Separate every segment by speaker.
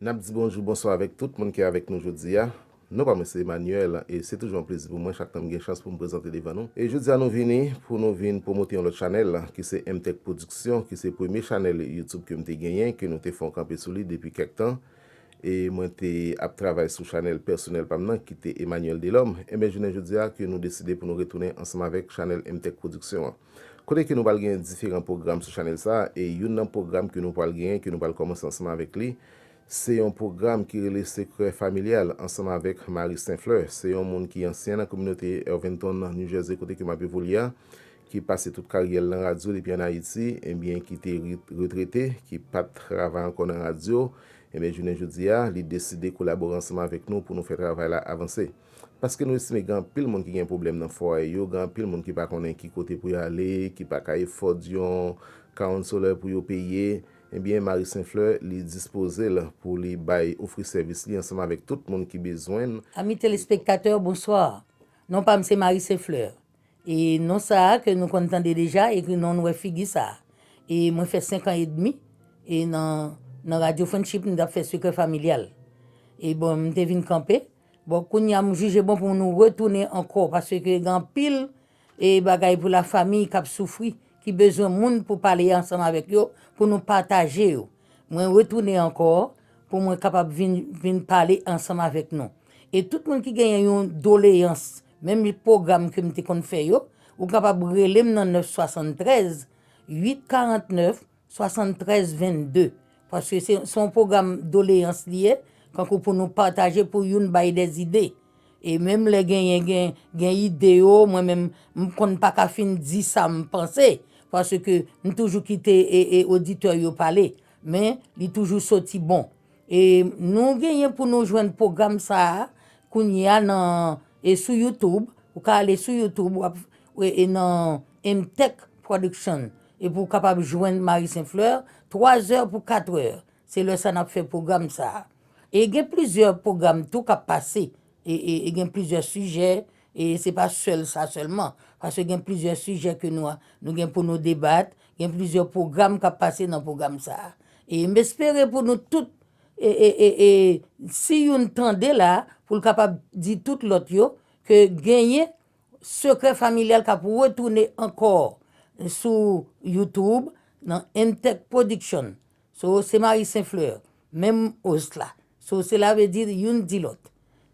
Speaker 1: N ap di bonjou, bonswa avèk tout moun ki avèk nou jodi a. Non pa mwen se Emmanuel e se toujou yon plezi pou mwen chak tan m gen chans pou m prezante devan nou. E jodi a nou vini pou nou vin pwomote yon lòt chanèl ki se Mtech Production ki se premye chanèl YouTube ke m te genyen ke nou te fè yon kanpe sou li depi kèk tan. e mwen te ap travay sou chanèl pèsonèl pa m nan ki te Emmanuel Delhomme, enben jounen jodi a ke nou deside pou nou retounen ansanm avèk chanèl Emtech Production an. Kote ke nou pral genyen diferan pwogram sou chanèl sa a e youn nan pwogram ke nou pral genyen ke nou pral kòmanse ansanm avèk li se yon pwogram ki rele Secret Familial ansanm avèk Marie St-Fleur se yon moun ki ansyen nan kominote Irvington New Jersey kote ke m ap evolye a ki pase tout karyè l nan radyo depi an Ayiti, ebyen ki te retrete, ki pa t travay ankò nan radyo, ebyen jounen jodi a, li deside kolabore ansanm avèk nou pou nou fè travay la avanse. Paske nou estime gen anpil moun ki gen pwoblèm nan fwaye yo, gen anpil moun ki pa konnen ki kote pou yo ale, ki pa ka efòd yon kawounselè pou yo peye, ebyen Marie Saint Fleur li dispoze l pou li bay ofri sèvis li ansanm avèk tout moun ki bezwen. Ami telespektatè,
Speaker 2: bonswa! Non pa m se Marie Saint Fleur. E non sa a ke nou konn tande deja e ke non nou wè figi sa a. E mwen fè 5 an edmi e nan nan Radio Friendship m t ap fè Sekrè Familyal. E bon m te vin kanpe. Bon kounye a m jije bon pou nou retounen ankò paske gen anpil e bagay pou la famiy k ap soufri ki bezwen moun pou pale ansanm avèk yo pou nou pataje yo. Mwen retounen ankò pou mwen kapab vin vin pale ansanm avèk nou. E tout moun ki genyen yon doleyans Menm pwogram ke m te konn fè yo, ou kapab rele m nan 973 849 73 22. Paske se yon pwogram doleyans li ye, kankou pou nou pataje pou youn bay de zide. E menm lè genyen gen ide yo, mwen menm m konn pa ka fin di sa m panse, paske m toujou kite oditè yo pale. Men li toujou soti bon. E nou genyen pou nou jwenn pwogram sa a kounye a nan e sou youtube ou ka ale sou youtube wap e nan Emtech production epi ou kapab jwenn Marie Saint Fleur 3 zè pou 4 è se lè sa nap fè pwogram sa a e gen plizyè pwogram tou kap pase e gen plizyè sijè e se pa sèl sa sèlman paske gen plizyè sijè ke nou a nou gen pou nou debat gen plizyè pwogram k ap pase nan pwogram sa a e m espere pou nou tout e si youn tande la pou l kapab di tout lòt yo ke genyen sekrè familyal k ap retounen ankò sou youtube nan Emtek production So se Marie Saint Fleur, menm host la. So sela vle di youn di lòt.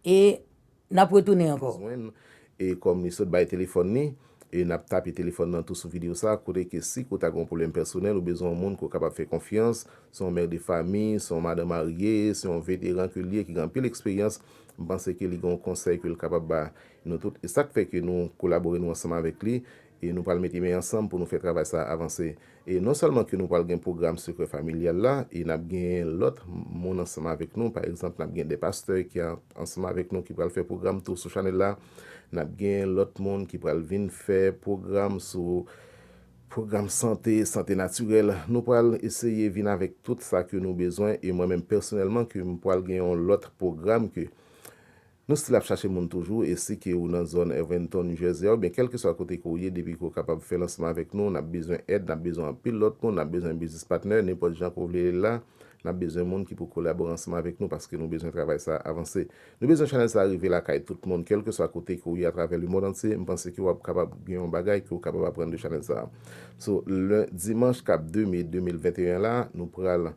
Speaker 2: E nap retounen ankò. Jwenn, e kòm
Speaker 1: li sot bay telefòn li, e nap tape telefòn nan tou sou video sa, kote ke si ke w ta gen yon pwoblèm pèsonèl, ou bezwen yon moun ke w kapab fè konfyans, se yon mère de famille, se yon madan marye, se yon veteran ke li ye ki gen anpil eksperyans, m panse ke li gen yon konsèy ke l kapab ba nou tout. E sak fè ke nou kolabore nou ansanm avèk li. E nou pral mete men ansanm pou nou fè travay sa a avanse. E non sèlman ke nou pral gen pwogram sekrè familyal la, e n ap genyen lòt moun ansanm avèk nou. Pa egzanp, n ap gen de pastè ki ap ansanm avèk nou ki pral fè pwogram tou sou chanèl la. N ap genyen lòt moun ki pral vin fè pwogram sou pwogram sante, sante natirèl. Nou pral eseye vin avèk tout sa ke nou bezwen. E mwen menm pèsonèlman ke m pral gen yon lòt pwogram ke Nou stil ap chache moun toujou e si ke ou nan zòn Irvinton, New Jersey a oubyen kèlkeswa kote ke ou ye depi ke ou kapab fè lansman avèk nou nap bezwen èd nap bezwen anpil lòt moun nap bezwen biznis patnè nenpòt jan ke ou vle lil la nap bezwen moun ki pou kolabore ansanm avèk nou paske nou bezwen travay sa a avanse nou bezwen chanèl sa a rive lakay tout moun kèlkeswa kote ke ou ye atravè lemond antye mpanse ke wap kapab gen yon bagay ke ou kapab aprann de chanèl sa a sou len dimanch kap 2 me 2021 la nou pral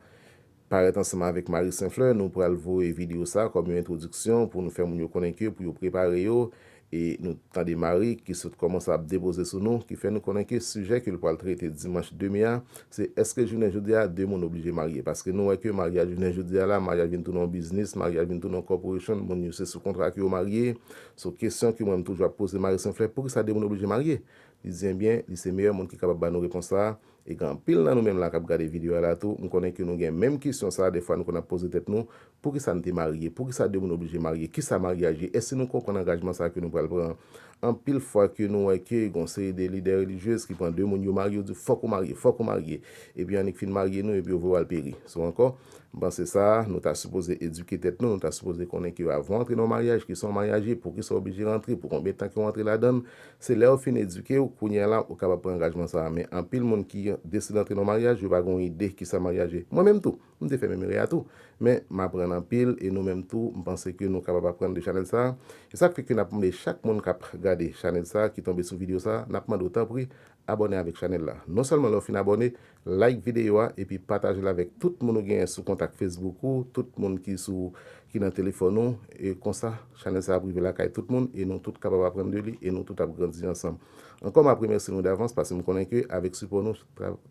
Speaker 1: Parèt ansanm avèk Marie St-Fleur, nou pral voye videyo sa a kòm yon entwodiksyon pou nou fè moun yo konnen ke pou yo prepare yo, e nou tande Marie ki sot kòmanse ap depoze sou nou, ki fè nou konnen ke sijè ke l pral trete dimanch 2 me a, se èske jounen jodi a 2 moun oblije marye? Paske nou wè ke maryaj jounen jodi a la, maryaj vin tounen yon biznis, maryaj vin tounen yon corporation, moun yo se sou kontra ke yo marye, so kesyon ke mwen m toujou ap poze Marie St-Fleur, poukisa 2 moun oblije marye? Li di enbyen, li se meyè moun ki kapab ba nou repons sa a, E gen anpil nan nou menm la kap gade video a la tou, m konnen ke nou gen menm kesyon sa, defwa nou konn ap poze tèt nou, poukisa n te marye, poukisa 2 moun oblije marye, kisa maryaj ye, èske nou konprann angajman sa ke nou pral pran an. Anpil fwa ke nou wè ke gen yon seri de lidè relijyez ki pran 2 moun yo marye, yo di w fòk ou marye, fòk ou marye, epi annik fin marye nou epi yo vwe w al peri. Sou ankò, m panse sa a, nou ta sipoze edike tèt nou, nou ta sipoze konnen ke avan w antre nan yon maryaj, kisa yon maryaj ye, poukisa w oblije rantre, pou konbyen tan ke w antre ladan l, Se lè yo fin edike ou, kounye a la ou kapab pran angajman sa a. Men, anpil moun ki deside antre nan maryaj, yo pa gen yon ide ki sa maryaj ye. Mwen menm tou, m te fè menm erè a tou. Men, m aprann anpil e nou menm tou, m panse ke nou kapab aprann de chanèl sa a. Se sa k fè ke n ap mande chak moun k ap gade chanèl sa a, ki tonbe sou videyo sa a, n ap mande w tanpri abòne avèk chanèl la. Non sèlman lè w fin abòne, Like videyo a epi pataje l avèk tout moun ou genyen sou kontak Facebook ou, tout moun ki sou ki nan telefòn ou, e konsa chanèl sa ap rive lakay tout moun e nou tout kapab aprann de li e nou tout ap grandi ansanm. Ankò map remèsye nou davans paske m konnen ke avèk sipò nou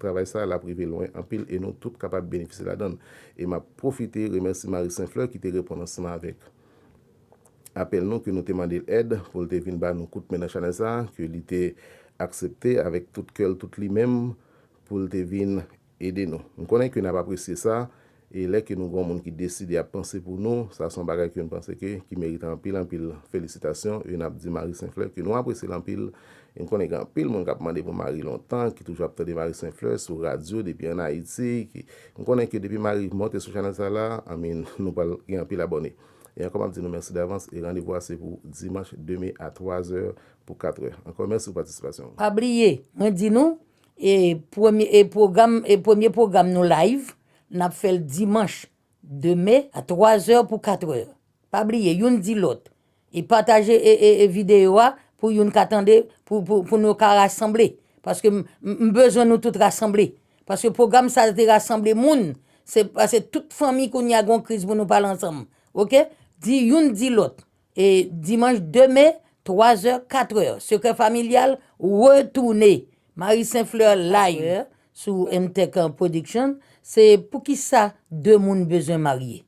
Speaker 1: travay sa lap rive lwen anpil e nou tout kapab benefisye ladann e map pwofite remèsye Marie Saint Fleur ki te reponn ansanm avèk apèl nou ke nou te mande l èd pou l te vin ba nou kout men nan chanèl sa ke li te aksepte avèk tout kè l tout li menm pou l te vin ede nou. M konnen ke n ap apresye sa, e lè ke nou gen yon moun ki deside ap panse pou nou, sa se yon bagay ke m panse ke ki merite anpil anpil felisitasyon, e n ap di Marie St-Fleur ke nou apresye l anpil, e m konnen gen anpil moun k ap mande pou Marie lontan, ki toujou ap tande Marie St-Fleur sou radyo depi an Ayiti, ki m konnen ke depi Marie monte sou chanèl sa la, anminn, nou pral gen anpil abòne. E ankò m ap di nou mèsi davans, e randevou a se pou dimanch 2 me a 3 zè Pou 4 è ankò mèsi pou patisipasyon ou. Pa bliye mwen
Speaker 2: di nou e premye e pwogram e premye pwogram nou live nap fèl dimanch 2 me a 3 zè pou 4 è pa bliye youn di lòt e pataje e e e videyo a pou youn ka tande pou pou pou nou ka rasanble paske m m bezwen nou tout rasanble paske pwogram sa te rasanble moun se pase tout fanmi kounya gon kriz pou nou pale ansanm ok di youn di lòt Dimanch 2 me, 3 zè, 4 è, Sekrè Familyal retounen! Marie Saint Fleur live sou Emtech Production se Poukisa 2 moun bezwen marye?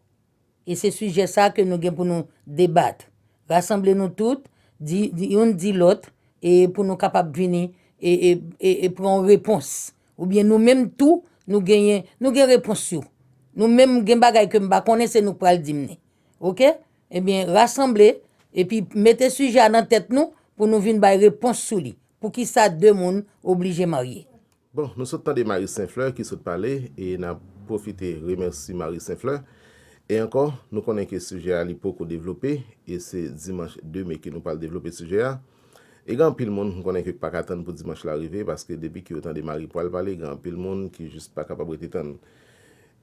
Speaker 2: E se sijè sa ke nou gen pou nou debat. Rasanble nou tout, di youn di lòt e pou nou kapab vini e pran yon repons. Oubyen nou menm tou nou genyen nou gen repons yo. Nou menm gen bagay ke m pa konnen se nou k pral di m ni. Ok? Ebyen, rasanble, epi mete sijè a nan tèt nou pou nou vin bay repons sou li. Poukisa de moun oblije marye? Bon, nou sot tande
Speaker 1: Marie St-Fleur ki sot pale, e n ap pwofite remèsi Marie St-Fleur. E ankò, nou konnen ke sijè a li poko devlope, e se dimanch 2 me ke nou pral devlope sijè a. E gen anpil moun, m konnen ke k pa ka tann pou dimanch la rive, paske depi ke yo tande Marie pral pale, gen anpil moun ki jis pa kapab rete tann.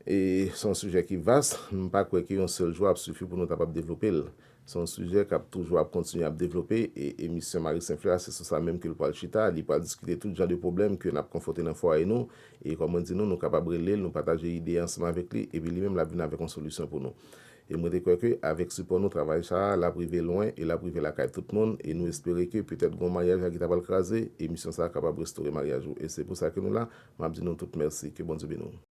Speaker 1: E se yon sijè ki vas, m pa kwè ke yon sèl jou ap sifi pou nou kapab devlope l. Se yon sijè k ap toujou ap kontinye ap devlope, e emisyon Marie St. Fleur a se sou sa menm ke l pral chita, li pral diskite tout jan de pwoblèm ke n ap konfwonte nan fwaye nou, e kòm mwen di nou, nou kapab rele l, nou pataje ide ansanm avèk li, epi li menm l ap vin avèk yon solisyon pou nou. E mwen te kwè ke avèk sipò nou travay sa a, l ap rive lwen, e l ap rive lakay tout moun, e nou espere ke petèt gon maryaj la ki ta pral kraze, emisyon sa a kapab restore maryaj ou, e se pou sa ke nou la, m ap di nou tout mèsi, ke Bondye beni w.